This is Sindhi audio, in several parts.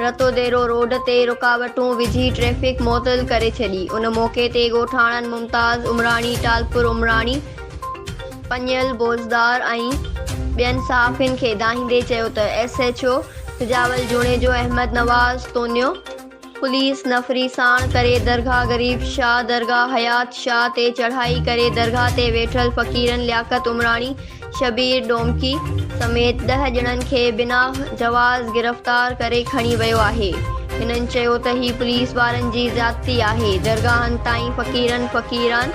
رتوديرو روڊ تي رڪاوٽون وجهي ٽريفڪ معطل ڪري ڇڏي، ان موقعي تي ڳوٺاڻن ممتاز عمراڻي، ٽالپر عمراڻي، پڃيل بوزدار ۽ ٻين صحافين کي دانهيندي چيو ته S H O Sajawal Junejo, Ahmed Nawaz Tunio, police نفري ساڻ ڪري درگاهه غريب شاهه، درگاهه حيات شاهه تي چڙهائي ڪري درگاهه تي ويٺل فقيرن لياقت عمراڻي، شبير ڊومڪي سميت ڏهه ڄڻن کي بنا جواز گرفتار ڪري کڻي ويو آهي هنن چيو ته هي پوليس وارن جي زيادتي آهي درگاهن تائين فقيرن فقيران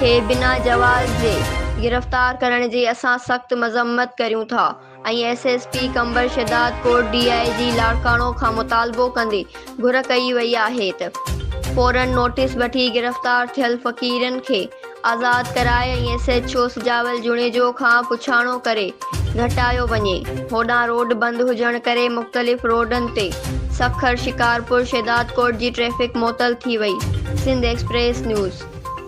کي بنا جواز جي گرفتار ڪرڻ جي اسان سخت مذمت ڪريون ٿا ۽ S S P Qambar Shahdadkot D I G Larkana کان مطالبو ڪندي گهر ڪئي وئي آهي ته فورن نوٽيس وٺي گرفتار ٿيل فقيرن کي آزاد ڪرائي ۽ S H O Sajawal Junejo کان پڇاڻو ڪري گهٽايو وڃي هوڏانهن روڊ بند هجڻ ڪري مختلف روڊن تي سکر شڪارپور شهدادڪوٽ جي ٽريفڪ معطل ٿي وئي سنڌ ايڪسپريس نيوز.